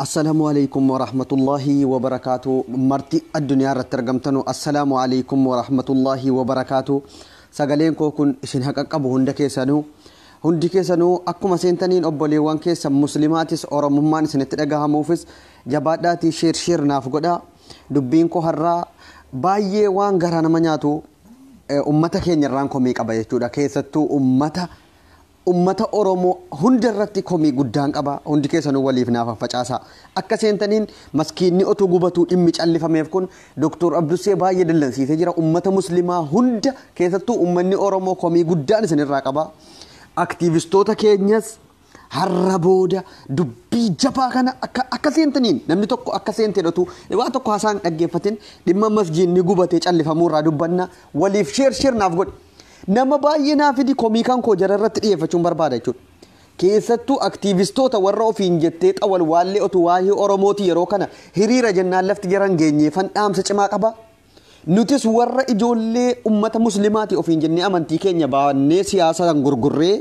Assalamu alaikum warahmatullahi wabarakatu marti addunyaa irratti argamtanu assalamu alaikum warahmatullahi wabarakatu sagaleen koo kun isin haqa qabu hunda keessanu hundi keessanu akkuma seentaniin obboleewwan keessan muslimaatis oromummaan isinitti dhagahamuufis jabaadhaatii sheer sheer naaf godha dubbiin koo har'aa baay'ee waan garaa nama nyaatu eh, ummata keenya irraan komii qaba jechuudha keessattuu ummata Ummata Oromoo hunda irratti komii guddaan qaba. Hundi keessanuu waliif naa faffacaasaa. Akka seentaniin maskiinni otoo gubatuu dhimmi callifameef kun Doktor Abdussee baay'ee dallansiisee jira. Ummata Muslimaa hunda keessattuu ummanni Oromoo komii guddaan isin irraa qaba. Aktiivistoota keenyas har'a booda dubbii jabaa kana akka akka seentaniin namni tokko akka seenteen otuu waan tokko haasaan dhaggeeffatin dhimma masjiinni gubatee callifamuu irraa dubbanna waliif sheer sheer naaf godhi. Nama baay'ee naa fidi komii kan koo jara irratti dhiyeeffachuun barbaada jechuudha. Keessattuu aktiivistoota warra ofiin jettee xawalwaallee otuu waahee Oromooti yeroo kana hiriira jennaan lafti jara hin geenyeefan dhaamsa cimaa qaba. Nutis warra ijoollee ummata muslimaati ofiin jennee amantii keenya baannee siyaasaan gurgurree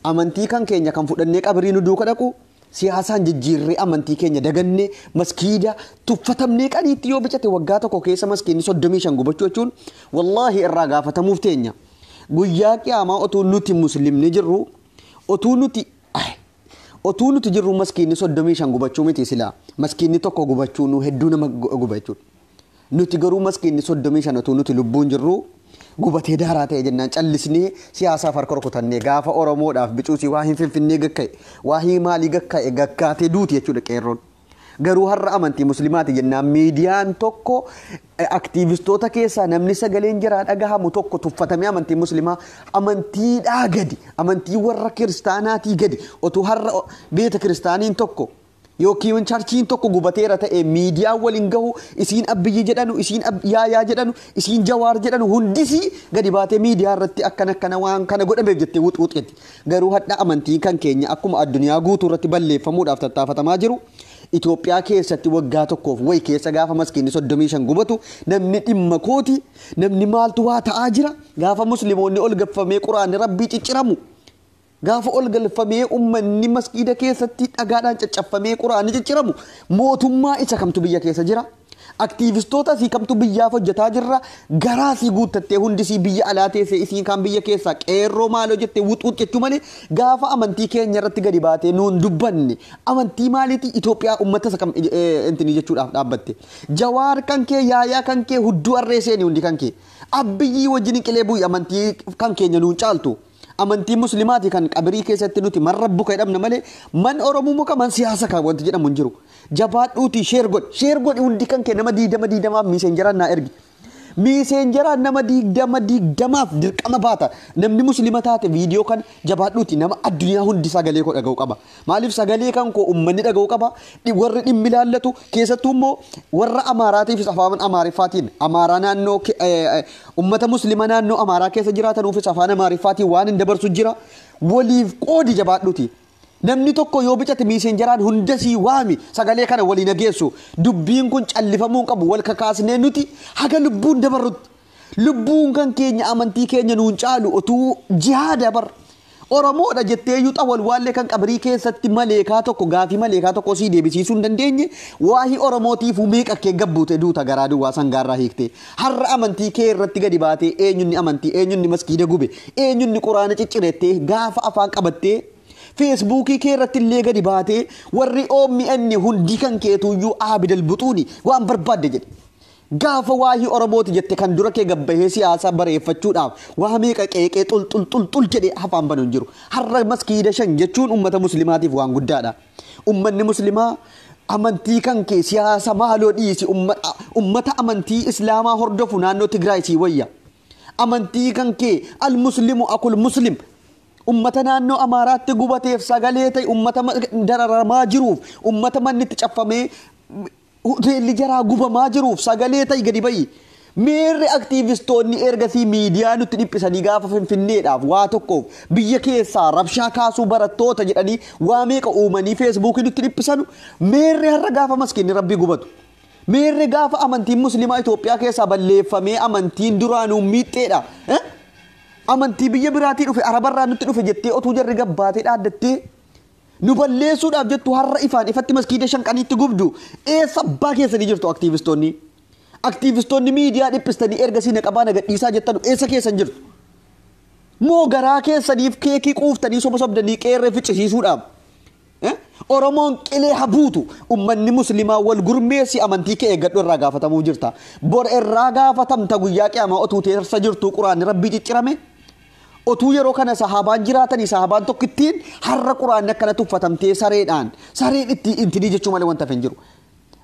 amantii kan keenya kan fudhannee qabirii nu duuka dhaqu Siyaasaan jijjiirree amantii keenya dagannee maskiida tuffatamnee qaniitti yoo bicate waggaa tokko keessa maskiinni 35 gubachuu jechuun wallaahi irraa gaafatamuuf teenya. Guyyaa qiyaamaa otuu nuti muslimni jirru otuu nuti otuu nuti jirru maskiinni 35 gubachuu miti silaa maskiinni tokko gubachuu nu hedduu nama guba jechuudha. Nuti garuu maskiinni 35 utuu nuti lubbuun jirruu gubatee daaraa ta'e jennaan callisnee siyaasaaf harka rukutannee gaafa Oromoodhaaf bicuusi waa hin finfinnee gakka'e waa hii maalii gakka'e gakkaatee duuti jechuudha qeerroon. Garuu har'a amantii muslimaati jennaan miidiyaan tokko aktiivistoota keessaa namni sagaleen jiraa dhagahamu tokko tuffatamee amantii muslimaa amantiidhaa gadi amantii warra kiristaanaatii gadi otuu har'a beeta kiristaaniin tokko Yookiin charchiin tokko gubateera ta'e miidiyaan wal hin gahu isiin abbiyyi jedhanu isiin yaayaa jedhanu isiin jawaar jedhanu hundisi gadi baatee miidiyaa irratti akkan akkana waan kana godhameef jettee wux wux jetti garuu hadha amantiin kan keenya akkuma addunyaa guutuu irratti balleeffamuudhaaf tattaafatamaa jiru Itoophiyaa keessatti waggaa tokkoof wayi keessa gaafa maskiinni soddomii shan gubatu namni dhimma kooti namni maaltu waa ta'aa jira gaafa muslimoonni ol gaffamee quraanni rabbii cicciramu Gaafa ol galfamee ummanni masgiida keessatti dhagaadhaan caccaffamee Qur'aanni cicciramu mootummaa isa kamtu biyya keessa jira? Aktiivistoota isii kamtu biyyaaf hojjetaa jirra? Garaa isii guuttattee hundi isii biyya alaa teessee isiin kaan biyya keessaa qeerroo maaloo jettee wux wux jechuu malee gaafa amantii keenya irratti gadi baatee nuun dubbanne amantii maaliiti Itoophiyaa ummata isa kam intinii jechuudhaaf dhaabbatte? Jawaar kan kee yaayaa kan kee hudduu arree seeni hundi kan kee. Abbiyyii wajjin qilee bu'i amantii kan keenya nuun caaltu. Amantii muslimaati kan qabirii keessatti nuti man rabbuka jedhamna malee man oromumuka man siyaasa kan wanti jedhamu hin jiru. Jabaadhuutii sheer godhi. Sheer godhi hundi kan kee nama diidama diidamaaf miiseenjaraan naa ergi. Miiseenjaraan nama diidama diidamaaf dirqama baata. Namni muslima taate viidiyoo kan jabaadhuuti nama addunyaa hundi sagalee koo dhaga'u qaba. Maaliif sagalee kan koo ummanni dhaga'u qaba, dhi- warri dhimmi ilaallatu, keessattuu immoo warra Amaaraatiifis afaan Amaariffaatiin, Amaaraa naannoo, ke- eh, eh, ummata Muslima naannoo Amaaraa keessa jiraatanuufis afaan Amaariffaatiin waan hin dabarsu jira. Waliif qoodi jabaadhuti. Namni tokko yoo bicate miiseenjaraan hunda sii waami sagalee kana walii nageessu. Dubbiin kun callifamuu hin qabu wal kakaasnee nuti haga lubbuun dabarrutti. Lubbuun kan keenya amantii keenya nuun caalu otuu jihaada bar. Oromoodha jettee iyyuu xawalwaallee kan qabrii keessatti maleekaa tokko gaafii maleekaa tokko sii deebisiisuu hin dandeenye waahii Oromootiifuu meeqa kee gabbuute duuta garaa duwwaa sangaarraa hiiktee. Har'a amantii kee irratti gadi baatee eenyunni amantii eenyunni maskiida gube eenyunni quraana ciccirettee gaafa afaan qabattee feesbuukii kee irratti illee gadi baatee warri OMN hundi kan keetuuyyuu aabidal buxuuni waan barbaadde jedhe. Gaafa waahii Oromooti jette kan dura kee gad bahee siyaasaa bareeffachuudhaaf waa meeqa qeeqee xul xul xul xul jedhee afaan banu hin jiru. Har'a maskiida shan jechuun ummata muslimaatiif waan guddaadha. Ummanni muslimaa amantii kan kee siyaasa maaloo dhiisi ummata amantii islaamaa hordofu naannoo Tigraay sii wayya. Amantii kan kee al muslimu akul muslim ummata naannoo Amaaraatti gubateef sagalee ta'e ummata dararamaa jiruuf ummata manni itti caffamee Hoteelli jaraa gubamaa jiruuf sagalee ta'i gadi ba'i. Meerre aktiivistoonni ergasii miidiyaa nutti dhiphisanii gaafa Finfinneedhaaf waa tokkoof biyya keessaa rabshaa kaasuu barattoota jedhanii waa meeqa uumanii feesbuukii nutti dhiphisanu meerre har'a gaafa maskiinni rabbii gubatu. Meerre gaafa amantiin musliimaa Itoophiyaa keessaa balleeffamee amantiin duraanuu miixxeedha. Eh? Amantii biyya biraatii dhufe arabarraa nutti dhufe jettee otuu jarri gabbaatee dhaaddattee Nu balleessuudhaaf jettu har'a ifaan ifatti maskiida shanqaniitti gubdu eessa abbaa keessanii jirtu aktiivistoonni? Aktiivistoonni miidiyaa dhiphistanii erga siina qabaa na gadhiisaa jettanu eessa keessan jirtu? Moo garaa keessaniif keekii quuftanii soba sobdanii qeerree ficcisiisuudhaaf? Eh? Oromoon qilee habuutu ummanni muslimaa wal gurmeessi amantii kee eeggadhu irraa gaafatamuuf jirta. Bor irraa gaafatamta guyyaa qiyaamaa otuu teessa jirtuu quraanni rabbii ciccirame? Otuu yeroo kana sahaabaan jiraatanii sahaabaan tokkittiin har'a quraanni akkana tuffatamtee sareedhaan sareen itti intinii jechuu malee wanta hin jiru.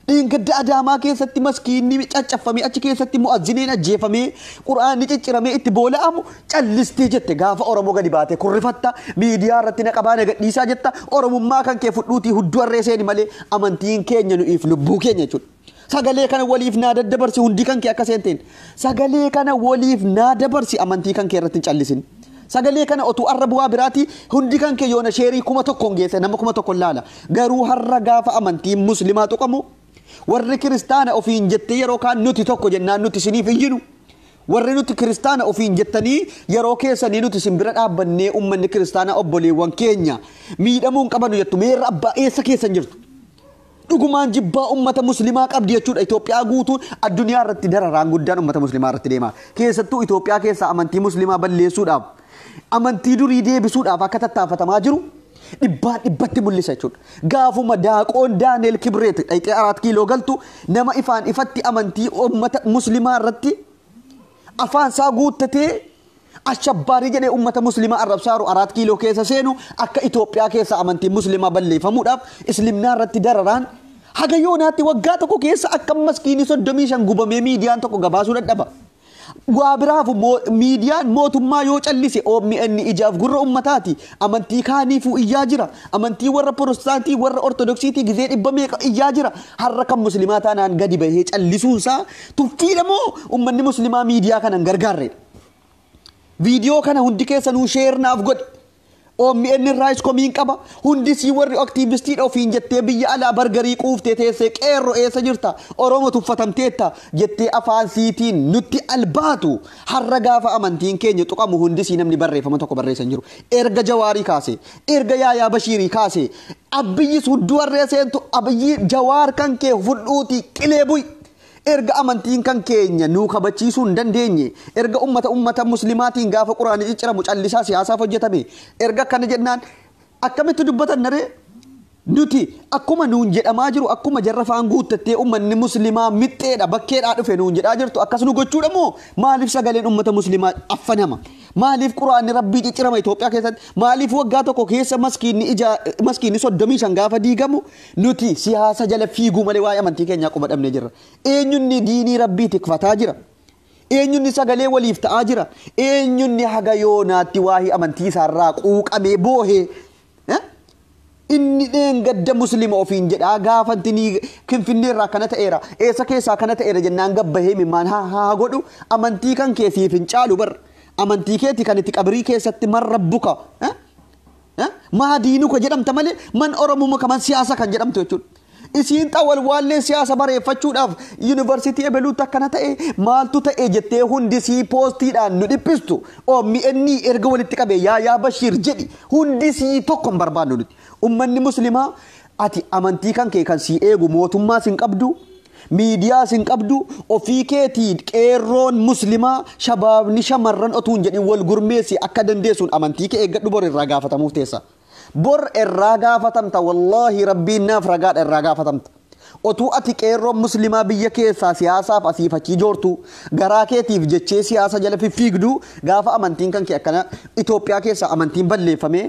Dheengadda Adaamaa keessatti maskiinni caccaffamee achi keessatti mu'azziniin ajjeefamee quraanni cicciramee itti boola'amu callistee jette gaafa Oromoo gadi baatee kurrifatta miidiyaa irratti na qabaa na gadhiisaa jetta Oromummaa kan kee fudhuutii hudduu harree seeni malee amantiin keenya nu'iif lubbuu keenya jechuudha. Sagalee kana waliif naa daddabarsi hundii kan kee akka seenteen. Sagalee kana waliif naa dabarsi amantii kan kee irratti hin callisin. Sagalee kana otuu arra bu'aa biraati hundi kan kee yoona sheerii kuma tokkoon geesse nama kuma tokkoon laala. Garuu har'a gaafa amantiin muslimaa tuqamu warri kiristaana ofiin jettee yeroo kaan nuti tokko jennaan nuti isiniif iyyinu. Warri nuti kiristaana ofiin jettanii yeroo keessanii nuti isin bira dhaabbannee uummanni kiristaanaa obboleewwan keenya miidhamuu hin qabanu jettu meerra abbaa eessa keessan jirtu. Dhugumaan jibbaa ummata muslimaa qabdi jechuudha Itoophiyaa guutuun addunyaa irratti dararaan guddaan ummata muslimaa irratti deema. Keessattuu Itoophiyaa keessaa amantii muslimaa balleessuudhaaf amantii durii deebisuudhaaf akka tattaafatamaa jiru dhibbaan dhibbatti mul'isa jechuudha. Gaafuma daaqoon Daaneel Kibreet dhayxee araat kiiloo galtu nama ifaan ifatti amantii ummata muslimaa irratti afaan isaa guuttatee ashabbaarii jedhee ummata muslimaa arrabsaaru araat kiiloo keessa seenu akka Itoophiyaa keessa amantiin muslimaa balleeffamuudhaaf islimnaa irratti dararaan haga yoonaatti waggaa tokko keessa akka maskiinii soddomii shan gubamee miidiyaan tokko gabaasuu dadhaba. Waa biraafu miidiyaan mootummaa yoo callise OMN ijaaf gurra ummataati. Amantii kaaniifuu iyyaa jira. Amantii warra Pirotestaantii warra Ortodoksiitii gizee dhibba meeqa iyyaa jira. Har'a kan muslimaa taanaan gadi bahee callisuunsaa Tuffiidha moo ummanni muslimaa miidiyaa kana hin gargaarreedha? Viidiyoo kana hundi keessanuu sheer naaf godhi. OMN irraayis komiin qaba. Hundi sii warri aktiivistiidha ofiin jettee biyya alaa bargarii quuftee teessee qeerro eessa jirta? Oromo tuffatamteetta jettee afaan siitiin nutti albaatu har'a gaafa amantiin keenya tuqamu hundi sii namni barreeffama tokko barreessa hin jiru. Erga Jawaarii kaase, erga Yaayaa Bashiirii kaase, Abbiyyis hudduu harree seentu Abiyyii Jawaar kan kee fudhuutii qilee bu'i. Erga amantiin kan keenya nuu kabachiisuu hin dandeenye, erga ummata ummata muslimaatiin gaafa quraanni cicciramu callisaa siyaasaaf hojjetame, erga akkana jennaan akkamitti dubbatanna ree? Nuti akkuma nuun jedhamaa jiru akkuma jarra faan guuttattee ummanni muslimaa mixxeedha, bakkeedhaa dhufe nuun jedhaa jirtu akkas nu gochuudha moo maaliif sagaleen ummata muslimaa affanama? Maaliif quraanni rabbii ciccirama Itoophiyaa keessatti? Maaliif waggaa tokko keessa maskiinni ijaa maskiinni 35 gaafa diigamu Nuti siyaasa jala fiiguu malee waa'ee amantii keenyaa quba dhabnee jirra. Eenyunni diinii Rabbii tikfataa jira. Eenyunni sagalee waliif ta'aa jira. Eenyunni haga yoonaatti waa'ee amantii isaarraa quuqamee boohe. Eh? Inni dheengadda muslima ofiin jedhaa gaafa intinii kinfinnee irraa akkana ta'eera. Eessa keessaa akkana ta'eera jennaan gabbahee mimmaan haa haa godhu. Amantii kan kee siif hin caalu bar. Amantii keeti kan itti qabrii keessatti man rabbuka. Eh? Maa diinu ka jedhamta malee man Oromumma ka man siyaasa kan jedhamtu jechuudha. Isiin xa walwaallee siyaasa bareeffachuudhaaf yuunivarsiitii ebeluutti akkana ta'e maaltu ta'e jettee hundi sii poostiidhaan nu dhiphistu OMN erga walitti qabee yaa yaa Bashiir jedhi hundi sii tokko hin barbaannu nuti. Ummanni muslimaa ati amantii kan kee kan sii eegu mootummaas hin qabdu Miidiyaas hin qabdu, ofii keetii qeerroon muslimaa shabaabni shamarran otuu hin jedhin wal gurmeessi akka dandeessuun amantii kee eeggadhu bor irraa gaafatamuuf teessa. Bor irraa gaafatamta wallaahi rabbiin naaf ragaadha irraa gaafatamta. Otuu ati qeerroon muslimaa biyya keessaa siyaasaaf asiif achii joortuu garaa keetiif jechee siyaasa jala fiffiigduu gaafa amantiin kan kee akkana Itoophiyaa keessaa amantiin balleeffamee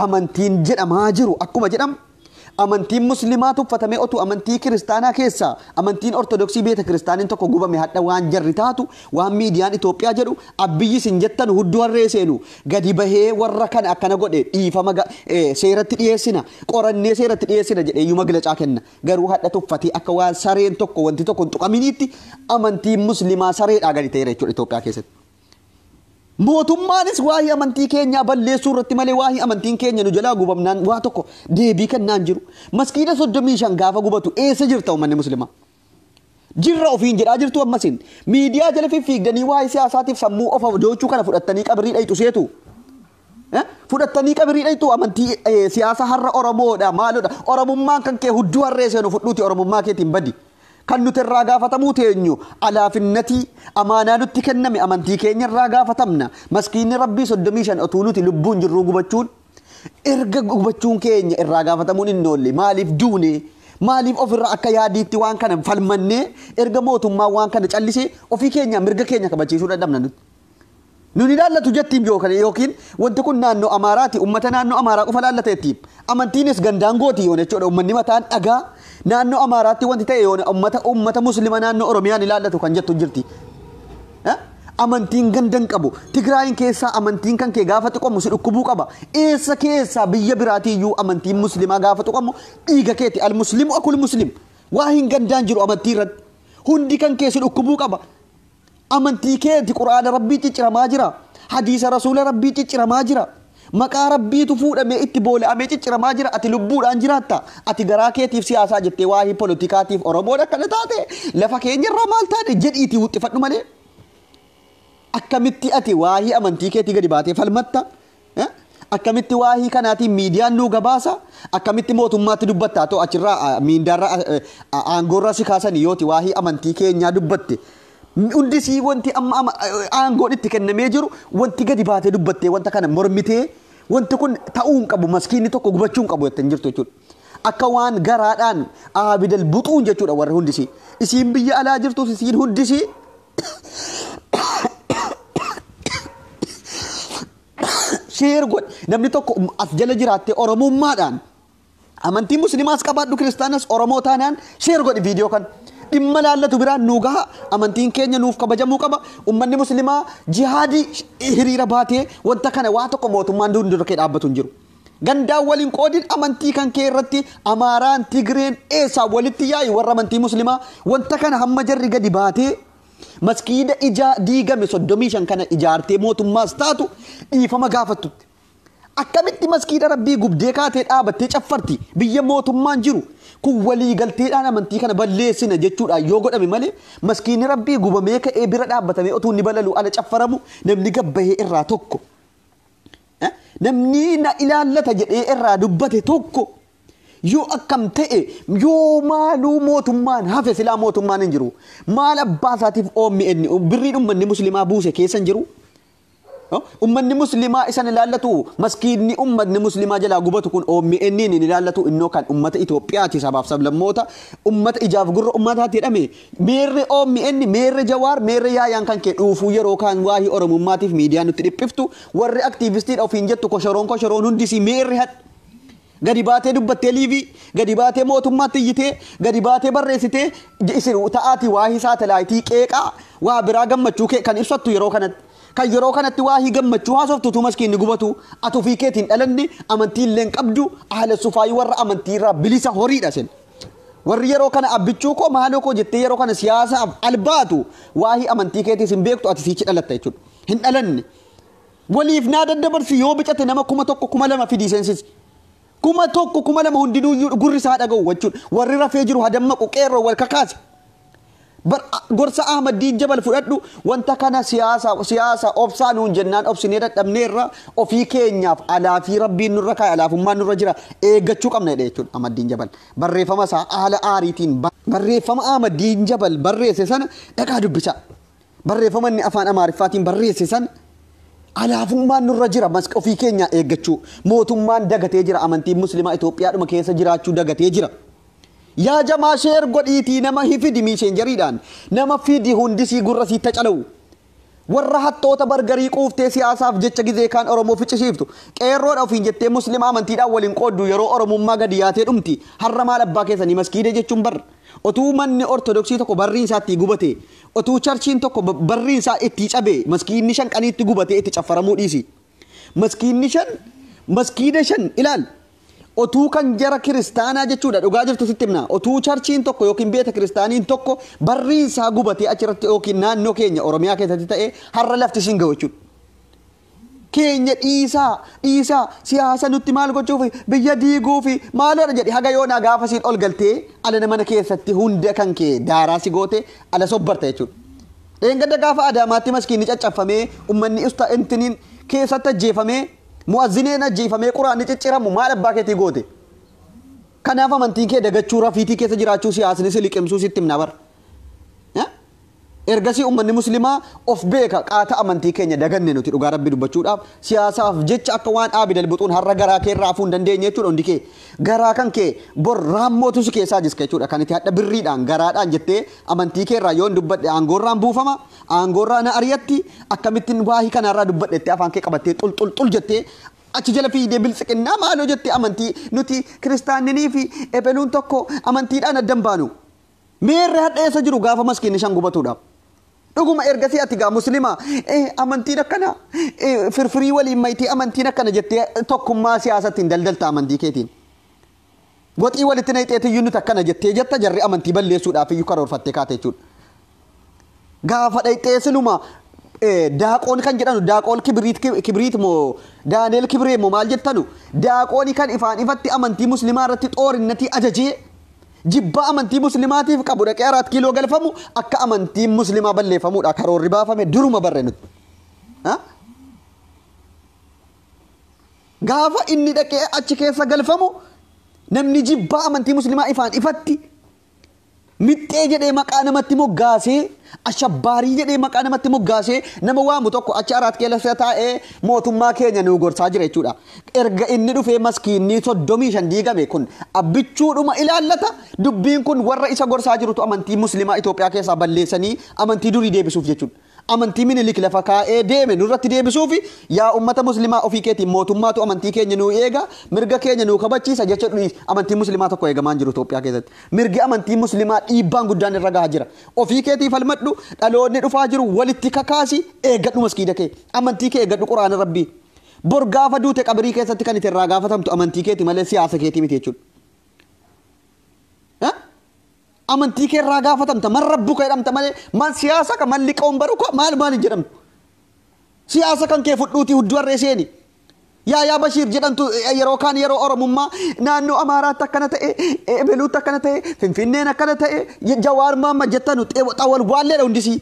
amantiin jedhamaa jiru akkuma jedhamu amantiin muslimaa tuffatamee otuu amantii kiristaanaa keessaa amantiin ortodoksii beeta kiristaaniin tokko gubame hadha waan jarri taatu waan miidiyaan Itoophiyaa jedhu abbiyyi sin jettan hudduu harree seenu gadi bahee warra kana akkana godhe dhiifama ga- eh, seeratti dhiyeessina qorannee seeratti dhiyeessina jedhee iyyuu maglacaa kenna garuu hadha tuffatee akka waan sareen tokko wanti tokko hin tuqaminiitti amantiin muslimaa sareedhaa gadi ta'eera jechuudha Itoophiyaa keessatti. Mootummaanis waa'ee amantii keenyaa balleessuu irratti malee waa'ee amantiin keenya nu jalaa gubamnaan waa tokko deebii kennaan jiru. Maskiida 35 gaafa gubatu eessa jirta uummanni muslimaa? Jirra ofiin jedhaa jirtu ammasiin. Miidiyaa jala fiffiigdanii waa'ee siyaasaatiif sammuu of ajoochuu kana fudhattanii qabrii dhayxu seetu. Fudhattanii qabirii dhayxuu amantii siyaasa har'a Oromoodha maalodha Oromummaan kan kee hudduu harree seenu fudhuuti Oromummaa keetiin badi. Kan nuti irraa gaafatamuu teenyu alaafinnatii amaanaa nutti kenname amantii keenya irraa gaafatamna. Maskiinni Rabbii 35 otuu nuti lubbuun jirruu gubachuun erga gubachuun keenya irraa gaafatamuun hin oolle maaliif duune maaliif ofirra akka yaadiitti waan kana falmannee erga mootummaan waan kana callisee ofii keenya mirga keenya kabachiisuu dadhabna nuti. Nun hin ilaallatu jettiim yookan yookiin wanti kun naannoo Amaaraati ummata naannoo Amaaraa qofa ilaallata jettiim. Amantiinis gandaan gooti yoona jechuudha ummanni mataan dhagaa naannoo Amaaraatti wanti ta'e yoona ummata ummata muslima naannoo Oromiyaan ilaallatu kan jettu hin jirti. Eh? Amantiin ganda hin qabu. Tigraayin keessaa amantiin kan kee gaafa tuqamu si dhukkubuu qaba. Eessa keessaa biyya biraatii iyyuu amantiin muslimaa gaafa tuqamu dhiiga keeti al muslimu akul muslim. Waa hin gandaan jiru amantii irratti. Hundi kan kee si dhukkubuu qaba. Amantii keeti qur'aana rabbii cicciramaa jira hadiisa rasuula rabbii cicciramaa jira maqaa rabbiitu fuudhamee itti boola'amee cicciramaa jira ati lubbuudhaan jiraatta ati garaa keetiif siyaasaa jettee waa'ee polotikaatiif oromoon akkana taate lafa keenya irraa maal taane jedhiitii wuxxifadhu malee akkamitti ati waa'ee amantii keetii gadi baatee falmatta Akkamitti waa hii kanaatiin miidiyaan nuu gabaasa akkamitti mootummaatti dubbatta atoo achirraa miindaarra aangoorraa si kaasanii yooti waa hii amantii keenyaa dubbatte hundi sii wanti amma aangoon itti kennamee jiru wanti gadi baatee dubbattee wanta kana mormitee wanti kun ta'uu hin qabu maskiinni tokko gubachuu hin qabu jettee hin jirtu jechuudha. Akka waan garaadhaan aabidal buxuun jechuudha warri hundisii. Isiin biyya alaa jirtus isiin hundisii sheer godhi namni tokko as jala jiraattee oromummaadhaan amantii musliimaas qabaadhu kiristaanas oromoo taanaan sheer godhi viidiyoo kan dhimma laallatu biraan nuu gaha amantiin keenya nuuf kabajamuu qaba ummanni musliimaa jihaadii hiriira baatee wanta kana waa tokko mootummaan dura kee dhaabbatu hin jiru. Gandaan wal hin qoodin amantii kan kee irratti Amaaraan, Tigreen eessaa walitti yaa'i warra amantii Muslimaa wanta kana hamma jarri gadi baatee maskiida ijaa diigame 35 kana ijaartee mootummaas taatu dhiifama gaafattutti. Akkamitti maskiida rabbii gubdee kaatee dhaabattee caffarti biyya mootummaan jiru kun walii galteedhaan amantii kana balleessina jechuudhaan yoo godhame malee maskiinni rabbii gubamee ka'ee bira dhaabbatamee otuu inni balaluu ala caffaramu namni gabbahee irraa tokko. namni na ilaallata jedhee irraa dubbate tokko yoo akkam ta'e yoo maaluu mootummaan hafe silaa mootummaan hin jiru maal abbaa isaatiif OMN birriin ummanni muslimaa buuse keessa hin jiru ummanni muslimaa isan ilaallatu maskiinni ummanni muslimaa jalaa gubatu kun OMN hin ilaallatu innoo kan ummata Itoophiyaati sabaaf sablammoota ummata ijaaf gurra ummataati jedhame Meerre omn, meerre Jawaar, meerre Yaayaan kan kee dhuufuu yeroo kaan waahii Oromummaatiif miidiyaa nutti dhiphiftu, warri aktiivistiidha ofiin jettu koshoroon koshoroon hundi isii meerre had? Gadi baatee dubbattee liivii, gadi baatee mootummaatti iyyitee, gadi baatee barreessitee isin ta'aatii waahii saatalaayitii qeeqaa waa biraa gammachuu kee kan ibsattu yeroo kanatti. Kan yeroo kanatti waahii gammachuu haasoftu utuu maskiinni gubatuu. Ati ofii keetii hin dhalanne, amantii illee hin qabdu, ahlassufaayii warra amantii irraa bilisa horiidha isin. Warri yeroo kana abbichuu koo maaloo koo jettee yeroo kana siyaasaaf albaatu waa'ee amantii keetiis hin beektu ati siichi dhalatta jechuudha. Hin dhalanne. Waliif naa daddabarsi yoo bicate nama kuma tokko kuma lama fidii seensisi. Kuma tokko kuma lama hundinuuyyuu gurri isaa dhaga'u jechuudha. Warri rafee jiru hadammaqu qeerroo wal kakaasi. Bar a- gorsa Ahmad Diin Jabal fudhadhu wanta kana siyaasa siyaasa obsaa nuun jennaan obsinee dadhabneerra ofii keenyaaf alaafii rabbiin nurra kaa'e alaafummaan nurra jira eeggachuu qabna jedhe jechuudha Ahmad Diin Jabal barreeffama isaa haala aariitiin ba- barreeffama Ahmad Diin Jabal barreesse sana dhaqaa dubbisaa barreeffama inni afaan Amaariffaatiin barreesse sana alaafummaan nurra jira mas ofii keenyaa eeggachuu mootummaan dagatee jira amantiin muslimaa Itoophiyaadhuma keessa jiraachuu dagatee jira. Yaa jamaa sheer godhiitii nama hifidi miiseenjariidhaan nama fidi hundisii gurra siit tacalawu. Warra hattoota bargarii quuftee siyaasaaf jecha gizee kaan Oromoo ficcisiiftu. Qeerroodha ofiin jettee Muslima amantiidhaan wal hin qooddu yeroo Oromummaa gadi yaatee dhumti. Harra maal abbaa keessanii maskiida jechuun bar otuu manni Ortodoksii tokko barriin isaa ittii gubatee otuu charchiin tokko barriin isaa ittii cabee maskiinni shan qanii itti gubatee itti caffaramuu dhiisi. Maskiinni shan maskiida shan ilaal Otuu kan jara kiristaanaa jechuudha dhugaa jirtu sitti himna. Otuu charchiin tokko yookiin beeta kiristaaniin tokko barriin isaa gubatee achirratti yookiin naannoo keenya Oromiyaa keessatti ta'ee har'a lafti isin ga'u jechuudha. Keenya dhiisaa dhiisaa siyaasa nutti maal gochuuf biyya diiguuf maaloodha jedhe haga yoonaa gaafa siin ol galtee ala mana keessatti hunda kan kee daaraa si goote ala sobbarta jechuudha. Dheengadda gaafa Adaamaatti maskiinni caccaffamee ummanni usta intiniin keessatti ajjeefamee Mu'azzinii hin ajjeefamee quraanni cicciramu maal abbaa keetii goote? Kanaaf amantiin kee dagachuu rafiitii keessa jiraachuu siyaasni si liqimsuu sitti himna bar. Ergasii ummanni muslimaa of beeka qaata amantii keenya daganne nuti dhugaa rabbii dubbachuudhaaf siyaasaaf jecha akka waan aabid albuxuun har'a garaa kee irraa hafuu hin dandeenye jechuudha hundi kee garaa kan kee bor raammootu si keessaa jiska jechuudha kan itti hadha birriidhaan garaadhaan jettee amantii kee irraa yoon dubbadhe aangoorraan buufama Aangoorraa na ari'atti akkamittin waahii kanaarraa dubbadha jettee afaan kee qabattee xul xul xul jettee achi jala fiigdee biltsiqinnaa maaloo jettee amantii nuti kiristaanninii fi ebeluun tokko amantiidhaan adda hin baanu. Meerre hadha eessa jiru gaafa maskiinni shan gubatuudha. Dhuguma ergasii ati gaa muslimaa eh, amantiin akkana eh, firfirii waliin maytee amantiin akkana jettee tokkummaa siyaasatti hin daldalta amantii keetiin. Goxii walitti nayxeetiyyuu nuti akkana jettee jetta jarri amantii balleessuudhaafiyyuu karoorfattee kaate jechuudha. Gaafa dhayxee siluma daaqoon kan jedhanu daaqoon kibiriit kibiriit moo daaneel kibiree moo maal jettanu daaqooni kan ifaan ifatti amantii muslimaa irratti xoorinnatii ajajee jibba amantii muslimaatiif qabu dhaqee araat kiiloo galfamu akka amantiin muslimaa balleeffamuudha karoorri baafame duruma barre nuti. Gaafa inni dhaqee achi keessa galfamu namni jibbaa amantii muslimaa ifaan ifatti mixxee jedhee maqaa namatti moggaasee ashabbaarii jedhee maqaa namatti moggaasee nama waamu tokko achi araat keessa taa'ee mootummaa keenya nu gorsaa jira jechuudha. Erga inni dhufee maskiinni soddomii shan diigame kun abbichuudhuma ilaallata dubbiin kun warra isa gorsaa jirutu amantii muslimaa Itoophiyaa keessaa balleessanii amantii durii deebisuuf jechuudha. amantii minilik lafa kaa'ee deeme nurratti deebisuufi yaa ummata muslimaa ofii keetiin mootummaatu amantii keenya nuu eega mirga keenya nuu kabachiisa jecha dhudhiis amantiin muslimaa tokko eegamaa hin jiru Itoophiyaa keessatti mirgi amantii muslimaa dhiibbaan guddaan irra gahaa jira ofii keetii falmadhu dhaloonni dhufaa jiru walitti kakaasi eegadhu maskiida kee amantii kee eegadhu quraana rabbii bor gaafa duute qabirii keessatti kan itti irraa gaafatamtu amantii keeti malee siyaasa keetii miti jechuudha Amantii kee irraa gaafatamta man rabbuka jedhamta malee man siyaasa ka man liqoon baruka maal maal hin jedhamtu. Siyaasa kan kee fudhuutii hudduu harree seeni. Yaayaa Bashiir jedhamtu eh, yeroo kaan yeroo Oromummaa naannoo Amaaraatti akkana ta'e, eh, Beluutti akkana ta'e, Finfinneen akkana ta'e, je- Jawaar Maamma jettanu xeewa- xawal waalleedha hundisii.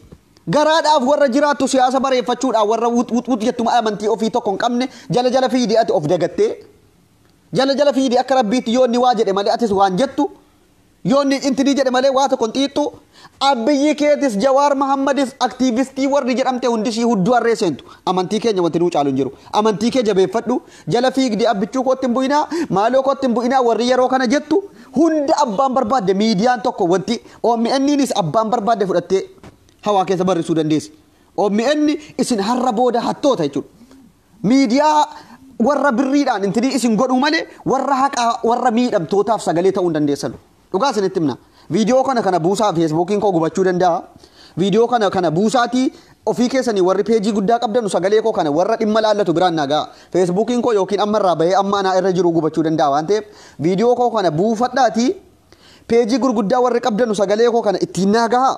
Garaadhaaf warra jiraattu siyaasa bareeffachuudhaaf warra wut wut wut jettuma amantii ofii tokko hin qabne jala jala fiidee ati of dagattee jala jala fiidee akka rabbiitti yoo inni waa jedhe malee atis waan jettu Yoo inni intinii jedhe malee waa tokko hin xiixxu. Abbiyyi keetis Jawaar Mahammadis aktiivistii warri jedhamte hundi ishii hudduu harree seentu. Amantii keenya wanti nuu caalu hin jiru. Amantii kee jabeeffadhu. Jala fiigdi abbichuu kootti hin bu'inaa, maaloo kootti hin bu'inaa warri yeroo kana jettu hunda abbaan barbaadde miidiyaan tokko wanti OMNinis abbaan barbaadde fudhattee hawaa keessa barrisuu dandeessi. OMN isin har'a booda hattoota jechuudha. Miidiyaa warra birriidhaan intinii isin godhuu malee warra haqaa warra miidhamtootaaf sagalee ta'uu hin dandeessanu. Dhugaa isinitti himna. Viidiyoo kana kana buusaa feesbuukiin koo gubachuu danda'a. Viidiyoo kana kana buusaatii ofii keessanii warri peejii guddaa qabdanu sagalee koo kana warra dhimma laallatu biraan naa ga'a. Feesbuukiin koo yookiin amma irraa bahee amma anaa irra jiru gubachuu danda'a waan ta'eef viidiyoo koo kana buufadhaatii peejii gurguddaa warri qabdanu sagalee koo kana ittiin naa gahaa.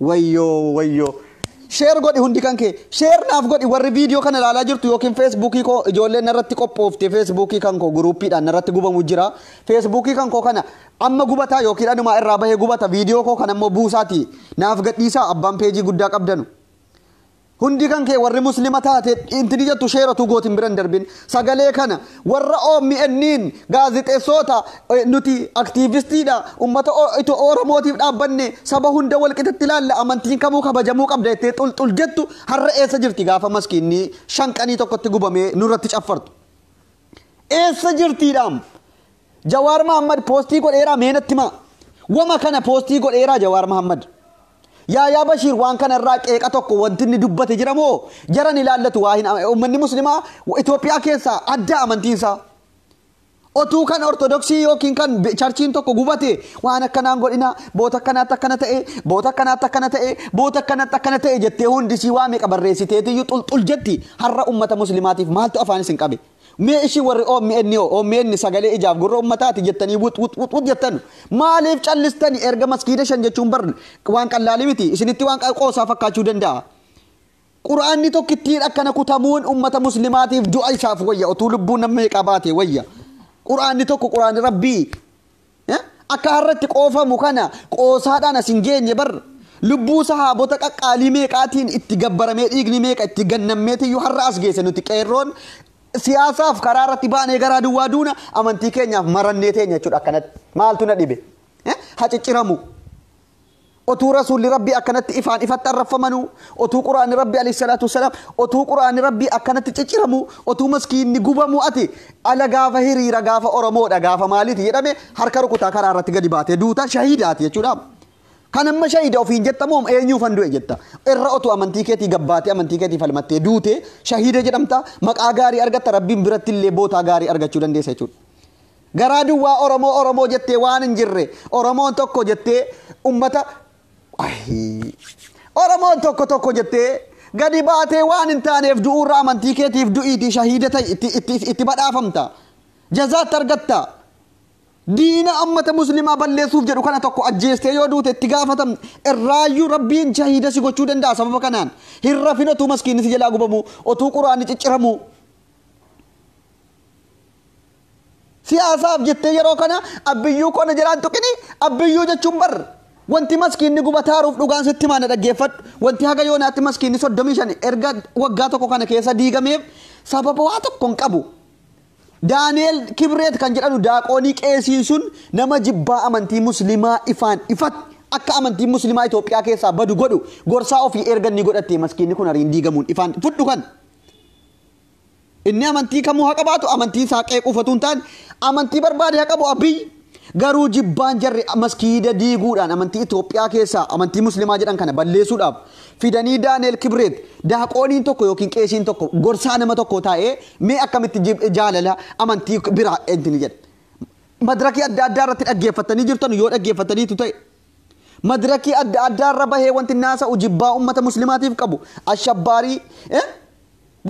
wayyoo wayyoo sheer godhi hundi kan kee sheer naaf godhi warri viidiyoo kana ilaalaa jirtu yookiin feesbuukii koo ijoolleen narratti qophoofte feesbuukii kan koo guruuppiidhaan narratti gubamu jira feesbuukii kan koo kana amma gubataa yookiin anumaa irraa bahee gubata viidiyoo koo kan ammoo buusaati naaf gadhiisaa abbaan peejii guddaa qabdanu Hundi kan kee warri muslima taate inti ni jettu sheera tu gootin bira hin darbin sagalee kana warra OMNn gaazixeessoota eh, nuti aktiivistiidha ummata O- ito oromootiif dhaabbanne saba hunda walqixatti ilaalla amantiin kamuu kabajamuu qabda jettee xulxul jettu har'a eessa jirti gaafa maskiinni shanqanii tokkotti gubamee nurratti caffartu eessa jirtiidhaam Jawaar Mahammad postii godheeraa mee natti himaa wama kana postii godheeraa Jawaar Mahammad Yaayaa Bashiir waan kana irraa qeeqa tokko wanti inni dubbate jira moo jaran ilaallatu waa hin ummanni muslimaa Itoophiyaa keessaa adda amantiin isaa otuu kan ortodoksii yookiin kan charchiin tokko gubate waan akkanaan godhina boota akkanaatti akkana ta'e boota akkanaatti akkana ta'e boota akkanaatti akkana ta'e jettee hundi sii waa meeqa barreessiteetiyyuu xulxul jetti har'a ummata muslimaatiif maaltu afaan isin qabe Mee isin warri omn hoo omn sagalee ijaaf gurra ummataati jettanii wut wut wut wut jettan maaliif callistani erga maskiida shan jechuun bar waan qallaalii miti isinitti waan qoosaa fakkaachuu danda'a. Quraanni tokkittiin akkana kutamuun ummata muslimaatiif du'a isaaf wayya otuu lubbuun namni meeqaa baate wayya. Quraanni tokko quraanni rabbii Akka har'a itti qoofamu kana qoosaadhaan as hin geenye bar lubbuu sahaabota qaqqaalii meeqaatiin itti gabbaramee dhiigni meeqa itti gannammeetiyyuu har'a as geesse nuti qeerroon siyaasaaf karaa irratti baanee garaa duwwaa duuna amantii keenyaaf marannee teenya jechuudha akkanatti maaltu na dhibe ha cicciramu Otuu Rasuulli Rabbii akkanatti ifaan ifatti arrabfamanuu, otuu Qur'aanni Rabbii aleyh salaatu wassalaam, otuu Qur'aanni Rabbii akkanatti cicciramuu, otuu maskiinni gubamuu ati ala gaafa hiriira gaafa Oromoodha gaafa maaliiti jedhame harka rukutaa karaa irratti gadi baatee duuta shahiida ati jechuudha. Kan amma shahiida ofiin jetta moo eenyuufan du'e jetta. Irra otuu amantii keetii gabbaatee amantii keetii falmattee duute shahiida jedhamta maqaa gaarii argatta Rabbiin birattillee bootaa gaarii argachuu dandeessa jechuudha. Garaa duwwaa Oromoo Oromoo jettee waan hin jirre Oromoon tokko jettee ummata ayii Oromoon tokko tokko jettee gadi baatee waan hin taaneef du'uurra amantii keetiif du'iitii shahiida ta'i itti, itti, itti badhaafamta jazaatti argatta diina ammata muslimaa balleessuuf jedhu kana tokko ajjeestee yoo duute itti gaafatam irraayyuu rabbiin shahiida si gochuu danda'a sababa kanaan hin rafin otuu maskiinni si jalaa gubamuu otuu quraanni cicciramuu Siyaasaaf jettee yeroo kana abbiyyuu koo na jalaan tuqini abbiyyuu jechuun bar wanti maskiinni gubataaruuf dhugaan sitti maana dhaggeeffadhu wanti haga yoonaatti maskiinni 35 erga waggaa tokko kana keessa diigameef sababa waa tokko hin qabu. Daani'eel Kibreet kan jedhanu daaqoonii qeesiin sun nama jibbaa amantii muslimaa ifaan ifatti akka amantiin muslimaa Itoophiyaa keessaa badu godhu gorsaa ofii erga inni godhattee maskiinni kun ariin diigamuun ifaan fudhu kan. Inni amantii kamuu haa qabaatu amantiin isaa qeequuf otuu hin taane amantii barbaade haa qabu Abiy garuu jibbaan jarri maskiida diiguudhaan amantii Itoophiyaa keessaa amantii muslimaa jedhan kana balleessuudhaaf fidanii Daaneel Kibreet daaqooniin tokko yookiin qeesiin tokko gorsaa nama tokkoo taa'ee mee akkamitti jib- jaalala amantii biraa intini jedha. Madirakii adda addaa irratti dhaggeeffattanii jirtan yoo dhaggeeffattaniitu ta'e Madirakii adda addaa irra bahee wanti naasa'u jibbaa ummata muslimaatiif qabu ashabbaarii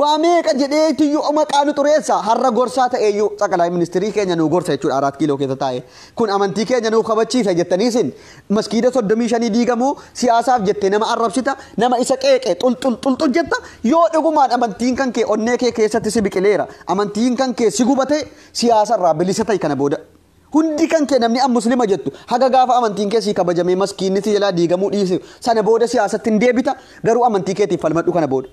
waa meeqa jedhee tiyyuu maqaa nu xureessa har'a gorsaa ta'eeyyuu xaqalaa ministirii keenya nu gorsa jechuudha araat kiiloo keessa taa'e kun amantii keenya nuuf kabachiisa jettanii isin maskiida soddomii shanii diigamuu siyaasaaf jettee nama arrabsita nama isa qeeqe xulxul xulxul jetta yoo dhugumaan amantiin kan kee onnee kee keessatti si biqileera amantiin kan kee si gubatee siyaasarraa bilisa ta'i kana booda Hundi kan kee namni an muslima jettu haga gaafa amantiin kee sii kabajamee maskiinni si jalaa diigamuu dhiise sana booda siyaasatti hin deebita garuu amantii keetiif falmadhu kana booda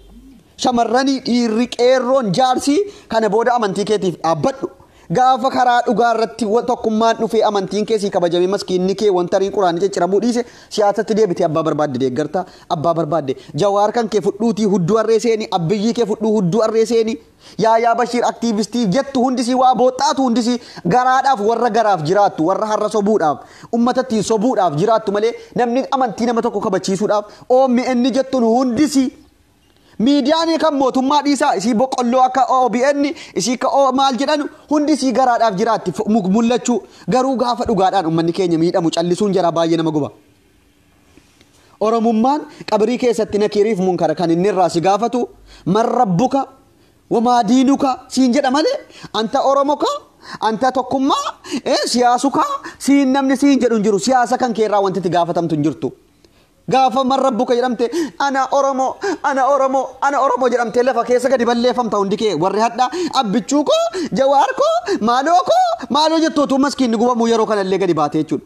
shamarranii dhiirri qeerroon jaarsii kana booda amantii keetiif dhaabbadhu gaafa karaa dhugaa irratti wa- tokkummaan dhufee amantiin kee sii kabajamee maskiinni kee wanta riin quraanii cicciramuu dhiise siyaasatti deebitee abbaa barbaadde deeggarta abbaa barbaadde jawaar kan kee fudhuutii hudduu harree seeni abbiyyii kee fudhuu hudduu harree seeni Yaayaa Bashiir aktiivistii jettu hundisii waa booxxaatu hundisii garaadhaaf warra garaaf jiraattu warra har'a sobuudhaaf ummatattiin sobuudhaaf jiraattu malee namni amantii nama tokko kabachiisuudhaaf OMN jettun hundisii miidiyaanii kan mootummaa dhiisaa isii boqqolloo akka OBN isii akka O maal jedhanu hundisii garaadhaaf jiraatti mul'achuu garuu gaafa dhugaadhaan ummanni keenya miidhamu callisuun jaraa baay'ee nama guba. Oromummaan qabrii keessatti nakiiriif munkara kan inni irraa si gaafatu man rabbuka wamaa diinuka siin jedha malee anta oromoka anta tokkummaa eh, siyaasuka siin namni siin jedhu hin jiru siyaasa kan kee irraa wanti itti gaafatamtu hin jirtu. Gaafa man rabbuka jedhamte ana oromoo ana oromoo ana oromoo jedhamte lafa keessa gadi balleeffamta hundi kee warri hadha abbichuu koo jawaar koo maaloo koo maaloo jettu utuu maskiinni gubamuu yeroo kanallee gadi baate jechuudha.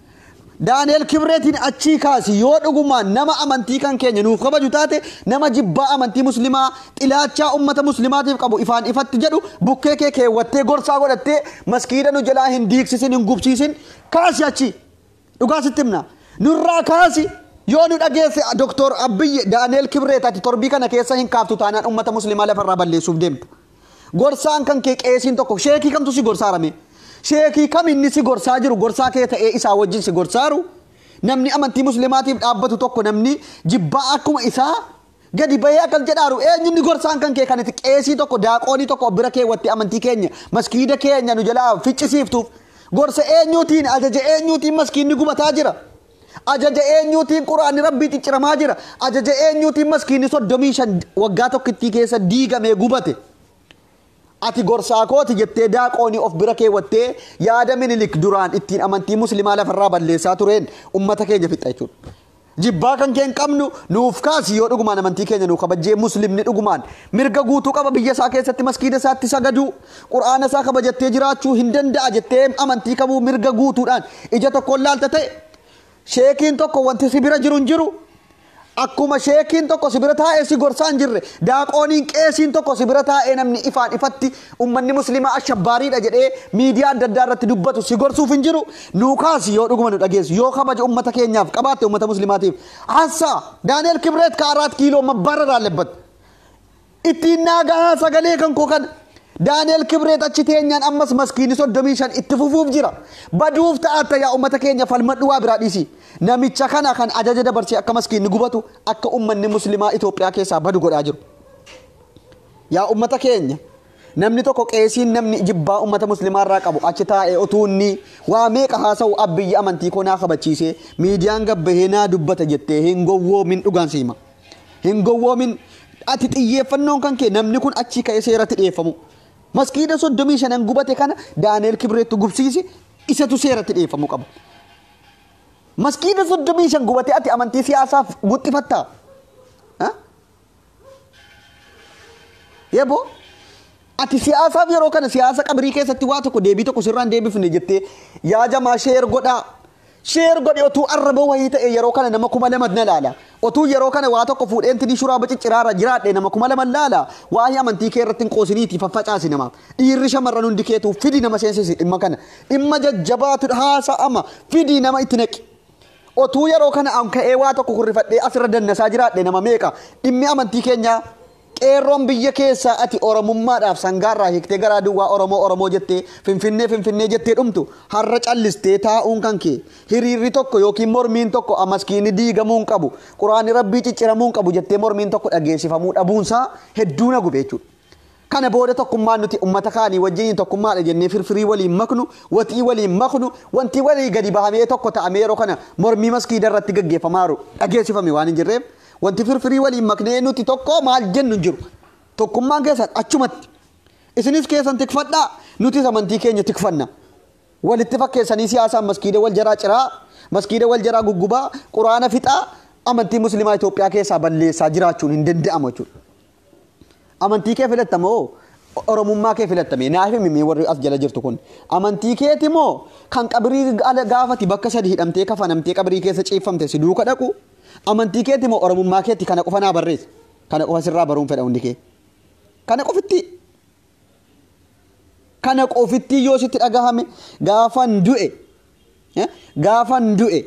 Daani'el Kibreetiin achii kaasi yoo dhugumaan nama amantii kan keenya nuuf kabaju taate nama jibbaa amantii muslimaa xilaachaa ummata muslimaatiif qabu ifaan ifatti jedhu bukkee kee keewwattee gorsaa godhattee maskiida nu jalaa hin diigsisin hin gubsiisin kaasi achii dhugaa sitti himna nurraa kaasi yoo nu dhageesse doktor Abiyyi Daani'el Kibreet ati torbii kana keessa hin kaaftu taanaan ummata muslimaa lafarraa balleessuuf deemta. Gorsaan kan kee qeesiin tokko sheekii kamtu si gorsaara mee? Sheekii kam inni si gorsaa jiru gorsaa kee ta'ee isaa wajjin si gorsaaru? Namni amantii muslimaatiif dhaabbatu tokko namni jibbaa akkuma isaa gadi bahee akkas jedhaaru eenyu inni gorsaan kan kee kan itti qeesii tokko daaqoonii tokko bira keewwatti amantii keenya maskiida keenya nu jalaa ficcisiiftuuf gorsa eenyuutiin ajaja eenyuutiin maskiinni gubataa jira. Ajaja eenyuutiin Qur'aanni Rabbii cicciramaa jira? Ajaja eenyuutiin maskiinni 35 waggaa tokkittii keessa diigamee gubate? Ati gorsaa kooti jettee daaqoonii of bira keewwattee yaada Minilik duraan ittiin amantii Muslimaa lafarraa balleessaa tureen ummata keenya fixxa jechuudha. Jibbaa kan kee hin qabnu nuuf kaasi yoo dhugumaan amantii keenya nuu kabajjee Muslimni dhugumaan mirga guutuu qaba biyya isaa keessatti maskiida isaatti sagaduu. Qur'aana isaa kabajattee jiraachuu hin danda'a jettee amantii kamuu mirga guutuudhaan ija tokkoon laalta ta'e sheekiin tokko wanti si bira jiru hin jiru akkuma sheekiin tokko si bira taa'ee si gorsaa hin jirre daaqooniin qeesiin tokko si bira taa'ee namni ifaan ifatti ummanni muslimaa ashabbaariidha jedhee miidiyaa adda addaa irratti dubbatu si gorsuuf hin jiru nuu kaasi yoo dhuguma nu dhageessu yoo kabaja ummata keenyaaf qabaatte ummata muslimaatiif hassaa daani'el kibreet ka araat kiiloo mabbaarra raallebbatte Ittiin naa gahaa sagalee kan koo kana. Daani'el Kibreet achi teenyaan ammas maskiini 35 itti fufuuf jira. Baduuf ta'atta yaa ummata keenya falmadhu waa biraa dhiisi. Namicha kana kan ajaja dabarsee akka maskiinni gubatu akka ummanni muslimaa Itoophiyaa keessaa badu godhaa jiru. Yaa ummata keenya namni tokko qeesiin namni jibbaa ummata muslimaa irraa qabu achi taa'ee otuu inni waa meeqa haasa'u abbiyyi amantii koo naa kabachiisee miidiyaan gabbahee naa dubbata jettee hin gowwoomin dhugaan siima. Hin gowwoomin. Ati xiyyeeffannoon kan kee namni kun achii ka'ee seeratti dhiyeeffamu. Maskiida soddomii shanan gubate kana Daani'eel Kibreettu gubsiisi isatu seeratti dhiyeeffamuu qaba. Maskiida soddomii shan gubate ati amantii siyaasaaf guxxifattaa? Ha? Yebo ati siyaasaaf yeroo kana siyaasa qabrii keessatti waa tokko deebii tokko sirraan deebifne jettee yaa jamaa sheer godhaa. Share godhi otuu arraba wahii ta'e yeroo kana nama kuma lama na laala. Otuu yeroo kana waa tokko fuudheen tinii shuraa bacicciraa irra jiraadhe nama kuma lama laala. Waahii amantii kee irratti hin qoosiniiti faffacaasi nama. Dhiirri shamarran hundi keetuu fidi nama seensisi dhimma kana. Dhimma jajjabaatu haasa'ama fidi nama itti naqi. Otuu yeroo kana an ka'ee waa tokko kurrifadhee asirra dannasaa jiraadhe nama meeqa dhimmi amantii keenyaa Qeerroon biyya keessaa ati Oromummaadhaaf sangaarraa hiiktee garaa duwwaa Oromoo Oromoo jettee Finfinnee Finfinnee jettee dhumtu har'a callistee taa'uun kan kee hiriirri tokko ykn mormiin tokko a maskiinni diigamuu hin qabu quraanni rabbii cicciramuu hin qabu jettee mormiin tokko dhageessifamuu dhabuunsaa hedduu na gube jechuudha. Kana booda tokkummaan nuti ummata kaanii wajjiniin tokkummaadha jennee firfirii waliin maknu, waxii waliin maknu, wanti walii gadi bahamee tokko ta'amee yeroo kana mormii maskiida irratti gaggeeffamaa jiru dhageessifame waan hin jirreef Wanti firfirii waliin maknee nuti tokko maal jennu hin jiru. Tokkummaan keessan achumatti. Isinis keessan tikfadhaa, nutis amantii keenya tikfanna. Walitti fakkeessanii siyaasaan maskiida wal jaraa ciraa, maskiida wal jaraa guggubaa, quraana fixaa, amantii muslimaa Itoophiyaa keessaa balleessaa jiraachuun hin danda'amu jechuudha. Amantii kee filatta moo oromummaa kee filatta mee naaf himi mee warri as jala jirtu kun amantii keeti moo kan qabrii ala gaafati bakka sadi hidhamtee kafanamtee qabrii keessa ciiffamte si duuka dhaqu amantii keeti moo oromummaa keeti kana qofa naa barreessa kana qofa sirraa baruun fedha hundi kee kana qofitti kana qofittii yoo sitti dhagahame gaafan du'e eh, gaafan du'e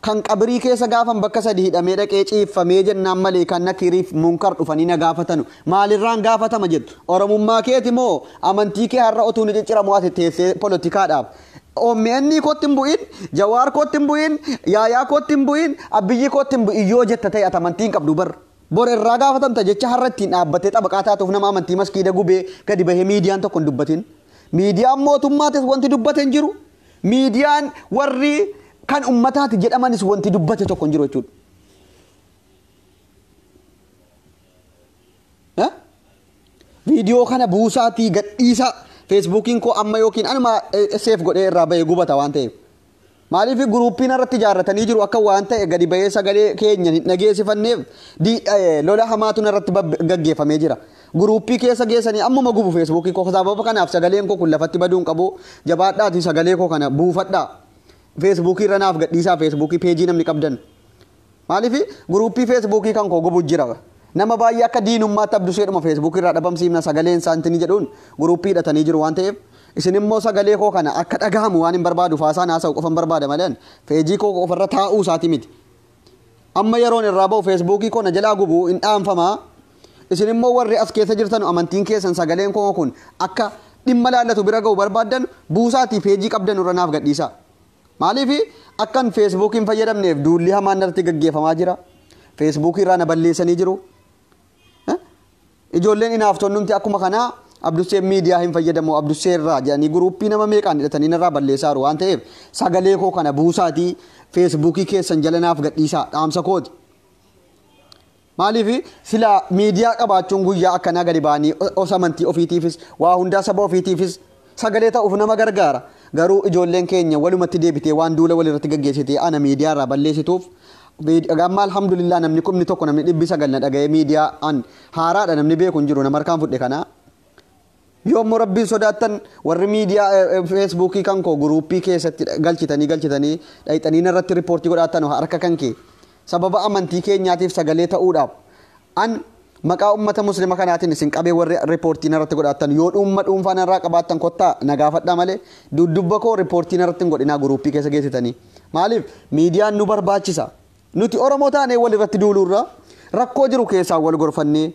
kan qabrii keessa gaafan bakka sadi hidhamee dhaqee ciiffamee jennaan malee kan nakiriif munkar dhufanii na gaafatanu maalirraan gaafatama jettu oromummaa keeti moo amantii kee har'a otuu ni cicciramu ati teessee poolotikaadhaaf OMN kootti hin bu'in, Jawaar kootti hin bu'in, Yaayaa kootti hin bu'in, Abiyyii kootti hin bu'in yoo jetta ta'e ati amantii hin qabdu barra. Bor irraa gaafatamta jecha har'a ittiin dhaabbattee xabaqaa taatuuf nama amantii maskiida gubee gadi bahee miidiyaan tokko hin dubbatin. Miidiyaan mootummaatis wanti dubbate hin jiru. Miidiyaan warri kan ummataati jedhamanis wanti dubbate tokko hin jiru jechuudha. Eh? Viidiyoo kana buusaatii gadhiisaa feesbuukiin koo amma yookiin anuma eh, seef godhee irraa bahee gubata waan ta'eef. Maaliif guruuppii narratti ijaarratanii jiru akka waan ta'e gadi ba'ee sagalee keenyan hin dhageessifanneef lola hamaatu narratti gaggeeffamee jira. Guruuppii keessa geessanii ammuma gubu feesbuukii koo sababa kanaaf sagaleen koo kun lafatti baduu hin qabu jabaadhaatii sagalee koo kana buufadhaa. Feesbuukii irra naaf gadhiisaa feesbuukii peejii namni qabdan Maaliif guruuppii feesbuukii kan koo gubu jira. Nama baay'ee akka diinummaatti abdusheedhuma feesbuukii irraa dhabamsiifna sagaleen isaa intini jedhuun guruuppii hidhatanii jiru waan ta'eef isin immoo sagalee koo kana akka dhagahamu waanin barbaaduuf haasaan haasa'u qofan barbaada malee ani feejii koo qofa irra taa'uu isaati miti. Amma yeroon irraa ba'u feesbuukii koo na jalaa gubu hin dhaanfama. Isin immoo warri as keessa jirtanu amantiin keessan sagaleen koo kun akka dhimma laallatu bira ga'u barbaaddan buusaatii feejii qabdanu irra naaf gadhiisaa. Maaliif akkan Facebook hin fayyadamneef duulli hamaan narratti gaggeeffamaa jira. Facebook irraa na balleessanii jiru. Eh? Ijoolleen inaaftonnumti akkuma kanaa Abdusseen miidiyaa hin fayyadamu Abdussee irraa jedhanii guruuppii nama meeqaan hidhatanii narraa balleessaa jiru waan ta'eef sagalee koo kana buusaatii Facebook keessan jala naaf gadhiisaa dhaamsa kooti. Maaliif sila miidiyaa qabaachuun guyyaa akkanaa gadi ba'anii os amantii ofiitiifis waa hundaa saba ofiitiifis sagalee ta'uuf nama gargaara. Garuu ijoolleen keenya walumatti deebitee waan duula walirratti gaggeessitee ana miidiyaa irraa balleessituuf amma alhamdulillah namni kumni tokko namni dhibbi sagal na dhaga'ee miidiyaa an haaraadha namni beeku hin jiru nama harkaan fudhe kana Yoo immoo Rabbiin sodaattan warri miidiyaa feesbuukii kan koo guruuppii keessatti galchitanii galchitanii dhayxanii narratti riippoortii godhaattan harka kan kee sababa amantii keenyaatiif sagalee ta'uudhaaf an maqaa ummata muslima kanaatiin isin qabee warri riippoortii narratti godhaattan yoo dhuunfa dhuunfaa narraa qabaattan kottaa nagaafadhaa malee dudubba koo riippoortii narratti hin godhinaa guruuppii keessa geessitanii maaliif miidiyaan nu barbaachisa nuti oromoo taanee walirratti duuluurra rakkoo jiru keessaa wal gorfannee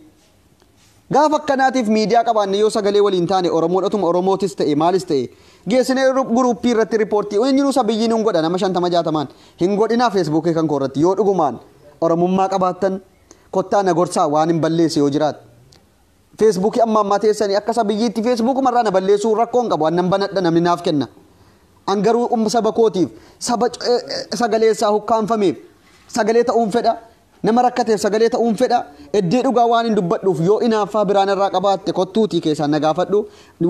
Gaafa akkanaatiif miidiyaa qabaanne yoo sagalee waliin taane Oromoon otuma Oromootis ta'e maalis ta'e geessinee guruuppii irratti ripoortii eenyinuu sabiyyiin hin godha nama shantama jaatamaan hin godhinaa feesbuukii kan koo irratti yoo dhugumaan Oromummaa qabaattan kottaa na gorsaa waan hin balleesse yoo jiraat feesbuukii amma ammaa teessanii akka sabiyyiitti feesbuukuma irraa na balleessuu rakkoo hin qabu annan banadha namni naaf kenna an garuu saba kootiif saba sagalee isaa hukkaanfameef sagalee ta'uun fedha Nama rakkateef sagalee ta'uun fedha. Eddee dhugaa waanin dubbadhuuf yoo inaaffaa biraa narraa qabaatte kottuutii keessaan na gaafadhu.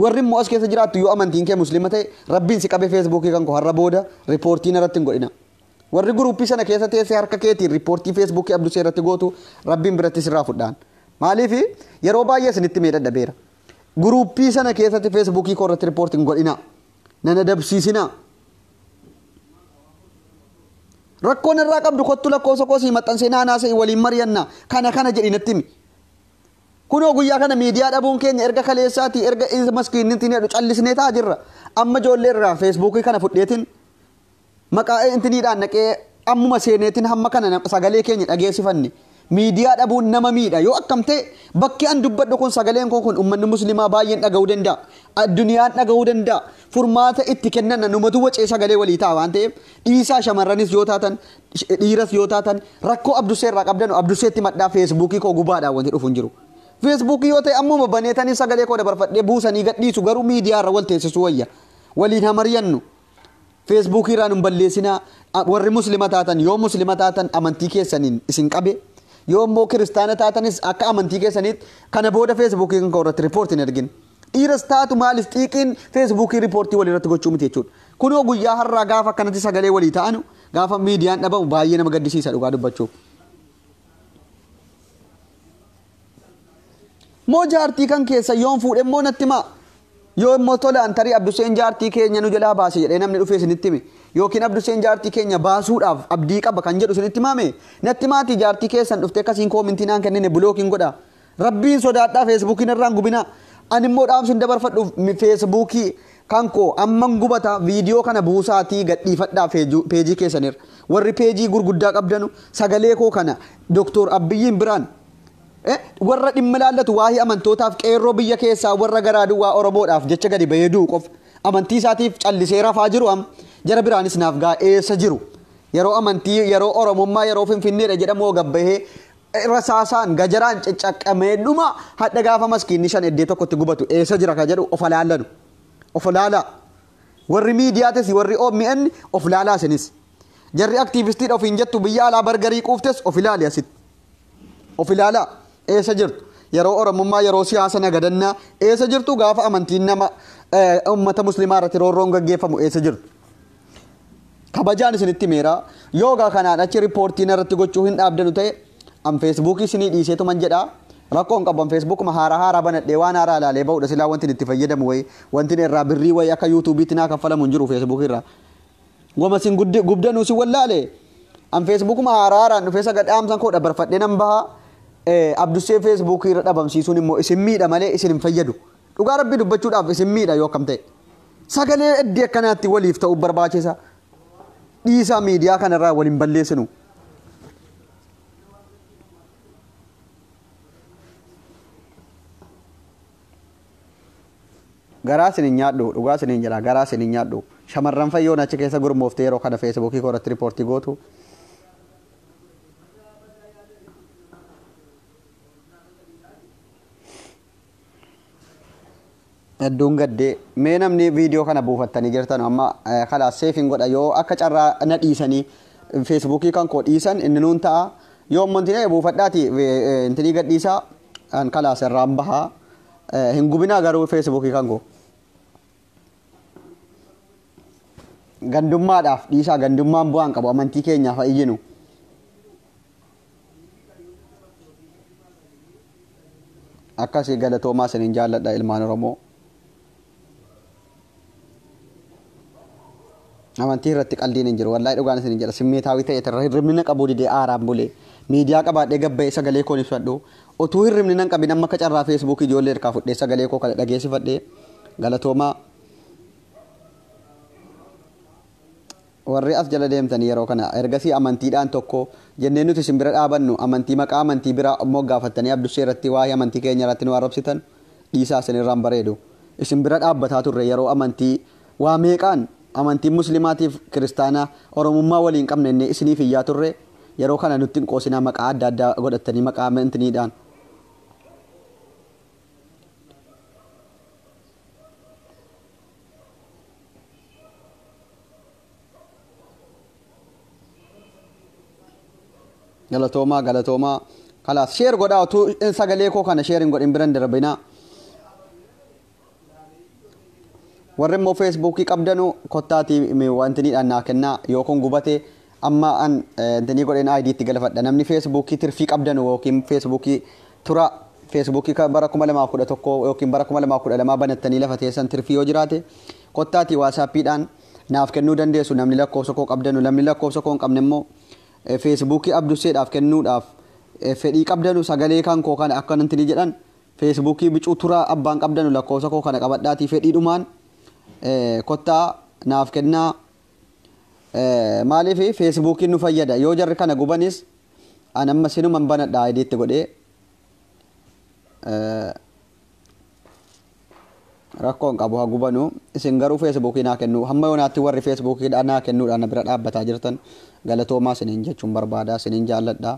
Warri immoo as keessa jiraattu yoo amantiin kee Muslima ta'e Rabbiin si qabee Feesbuukii kan koo har'a booda ripoortii narratti hin godhina. Warri guruuppii sana keessa teessee harka keetiin ripoortii Feesbuukii Abdusee irratti gootu Rabbiin biratti sirraa fudhaan. Maaliif yeroo baay'ee isinitti mee dadhabeera. Guruuppii sana keessatti Feesbuukii koo irratti ripoortii hin godhina. nan adabsiisinaa rakkoo narraa qabdu kottu lakkoofsa koo sii maxxansee naanaa se'i waliin mari'anna kana kana jedhi natti himi kunoo guyyaa kana miidiyaa dhabuun keenya erga kaleessaatii erga maskiinnitti hin jedhu callisnee taa jirra amma ijoollee irraa feesbuukii kana fudheetiin Maqaa ANTniidhaan dhaqee ammuma seeneetin hamma kana na- sagalee keenya dhageessifanne. Miidiyaa dhabuun nama miidha. Yoo akkam ta'e bakki an dubbadhu kun sagaleen koo kun ummanni muslimaa baay'een dhaga'uu danda'a. Addunyaan dhaga'uu danda'a. Furmaata itti kennanna numatu wacee sagalee walii ta'a waan ta'eef dhiisaa shamarranis yoo taatan sh- dhiiras yoo taatan rakkoo abdussee irraa qabdanu abdusseetti madhaa feesbuukii koo gubaadhaan wanti dhufu hin jiru. Feesbuukii yoo ta'e ammuma baneetanii sagalee koo dabarfadhee buusanii gadhiisu garuu miidiyaa irra wal teessisu wayya. Waliin haa mari'annu. Feesbuukii irraa nun balleessinaa. A- Warri muslima taatan yoo muslima taatan amantii keessaniin isin qabe yoo immoo kiristaana taatanis akka amantii keessaniitti kana booda feesbuukii kan ka'u irratti riippoortii hin ergin. Dhiiras taatu maalis xiiqiin feesbuukii riippoortii walii irratti gochuu miti jechuudha. Kunoo guyyaa har'aa gaafa akkanatti sagalee walii ta'anu gaafa miidiyaan dhabamu baay'ee nama gaddisiisa dhugaa dubbachuuf. Moo jaartii kan keessa yoon fuudhe immoo natti himaa. Yoo immoo tolaan tarii Abduseen jaartii keenya nu jalaa baase jedhee namni dhufee isinitti hime. Yookiin Abduseen jaartii keenya baasuudhaaf abdii qaba kan jedhu isinitti himaame. Natti himaatii jaartii keessan dhuftee akkasiin koomintii naan kennine bulookiin godha. Rabbiin sodaadhaa feesbuukii narraan gubinaa. Ani immoo dhaamsin dabarfadhuuf feesbuukii kan koo amman gubata viidiyoo kana buusaatii gadhiifadhaa peejii keessanirra. Warri peejii gurguddaa qabdanu sagalee koo kana Doktor Abbiyyiin biraan warra dhimma ilaallatu waa'ee amantootaaf qeerroo biyya keessaa warra garaa duwwaa Oromoodhaaf jecha gadi bahee du'u qofa. Amantii isaatiif callisee rafaa jiru am jara biraanis naaf gaa eessa jiru. Yeroo amantii yeroo Oromummaa yeroo Finfinneedha jedhamu hoo gabbahee rasaasaan gajaraan ciccaqqamee dhuma hadha gaafa maskiinni shan eddee tokkotti gubatu eessa jira ka jedhu of alaallanu of laalaa warri miidiyaatis warri OMN of laalaa isinis jarri aktiivistiidha ofiin jettu biyya alaa bargarii quuftes of ilaali asitti of ilaalaa eessa jirtu yeroo oromummaa yeroo siyaasa nagadannaa eessa jirtu gaafa amantiin nama eh, ummata muslimaa irratti roorroon gaggeeffamu eessa jirtu kabajaan isinitti himeera yoo egaa kanaan achi riippoortii narratti gochuu hin dhaabdanu ta'e an feesbuukii isinii dhiiseetuman jedha rakkoon qabu an feesbuukuma haaraa haaraa banadhee waan haaraa ilaalee ba'udha silaa wanti itti fayyadamu wayii wanti irraa birrii wayii akka yuutuubiitti naa kaffalamu hin jiru feesbuukii irraa wama sin guddi- gubdanuu sin wallaale an feesbuukuma haaraa haaraan dhufee saga dhaamsan koo dabarfadhee nan baha Eh, abdussee feesbuukii irra dhabamsiisuun immoo isin miidha malee isin hin fayyadu Dhugaa rabbii dubbachuudhaaf isin miidha yoo akkam ta'e. Sagalee eddii akkanaatti waliif ta'uu barbaachisa. Dhiisaa miidiyaa kanarraa waliin balleessinu. Garaa isin hin nyaadhu, dhugaa isin hin jedha, garaa isin hin nyaadhu. Shamarran fayyoon achi keessa gurmooftee yeroo kana feesibuukii koo irratti riippoortii gootu. Hedduun gaddee. Mee namni viidiyoo kana buufattanii jirtan amma eh, kalaas seefiin godha yoo akka carraa na dhiisanii feesbuukii kan koo dhiisan inni nuun ta'a. Yoo ammoo intinee buufadhaati eh, eh, intinii gadhiisaa an kalaas irraan bahaa. Eh, Hin gubinaa garuu feesbuukii kan koo. Gandummaadhaaf dhiisaa gandummaan bu'aan qabu amantii keenyaaf haa iyyinu. akkasii galatoomaa isinin jaalladha ilmaan oromoo amantii irratti qaldiin hin jiru wallahi dhugaan isinin jedha simmeetaawii ta'e irra hirribnina qabuu didee aaraan bulee miidiyaa qabaadhee gabba'ee sagalee koon ibsadhu utuu hirribnina hin qabin amma akka carraa feesbuukii ijoollee irkaa fudhee sagalee koo kana dhageessifadhee galatoomaa Warri as jala deemtanii yeroo kana ergasii amantiidhaan tokko jennee nuti isin bira dhaabannu amantii maqaa amantii biraa moggaafattanii Abdushee irratti waa'ee amantii keenya irratti nu arrabsitan dhiisaa isin irraa hin bareedu. Isin bira dhaabbataa turre yeroo amantii waa meeqaan amantiin muslimaatiif kiristaanaa oromummaa walii hin qabne jennee isiniif iyyaa turre yeroo kana nutti hin qoosinaa maqaa adda addaa godhattanii maqaa amantiniidhaan. galatoomaa galatoomaa kalaas sheer godhaa utuu in sagalee koo kana sheer hin godhin biran darbinaa warri immoo feesbuukii qabdanu kottaatii wantinidhaan naa kennaa yoo kun gubate Amma an danii godhen ID itti galafadha namni Facebook tirfii qabdanu yookiin Facebook tura Facebook ka bara 2011 yookiin bara 2012 banattanii lafa teessan tirfii yoo jiraate kottaati WhatsApp dhaan naaf kennuu dandeessu namni lakkoofsa koo qabdanu namni lakkoofsa koo hin qabne immoo Facebook Abdusseedhaaf kennuudhaaf fedhii qabdanu sagalee kan koo kana akka nantini jedhan Facebook bicuu tura abbaan qabdanu lakkoofsa koo kana qabadhaatii fedhiidhumaan kottaa naaf kennaa Maaliif feesbuukiin nu fayyada yoo jarri kana gubanis an amma sinuman banadha ID itti godhee rakkoon qabu haa gubanu isin garuu feesbuukii naa kennu hamma yoonaatti warri feesbuukii naa kennuudhaan na bira dhaabbataa jirtan galatoomaa siniin jechuun barbaadaa siniin jaalladhaa.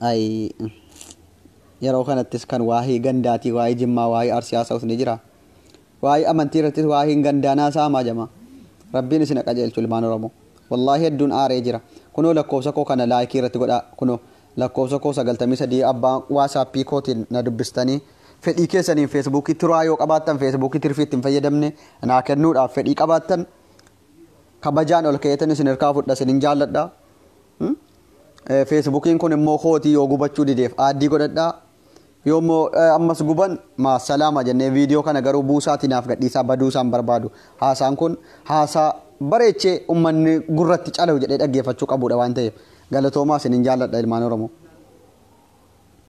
Ayii yeroo kanattis kan waa'ee gandaatii waa'ee jimmaa waa'ee arsii haasa'us ni jira. Waa'ee amantii irrattis waa'een gandaa naa saamaa jamaa. Rabbiin isin qajeelchu ilmaan Oromoo. Wallaahi hedduun aaree jira. Kunoo lakkoofsa koo kana laayikii irratti godhaa kunoo lakkoofsa koo 93 abbaa waasaappii kootiin na dubbistanii fedhii keessaniin feesbuukii turaa yoo qabaattan feesbuukii tirfii itti hin fayyadamne naa kennuudhaaf fedhii qabaattan kabajaan ol ka'eetan isin irkaa fudha isinin jaalladha feesbukiin kun immoo kootii yoo gubachuu dideef aaddii godhadha yoo immoo ammas guban maasalaama jennee viidiyoo kana garuu buusaatii naaf gadhiisaa baduu isaan barbaadu haasaan kun haasaa bareechee ummanni gurratti calahu jedhee dhaggeeffachuu qabuudha waan ta'eef galatoomaa isinin jaalladha ilmaan oromoo.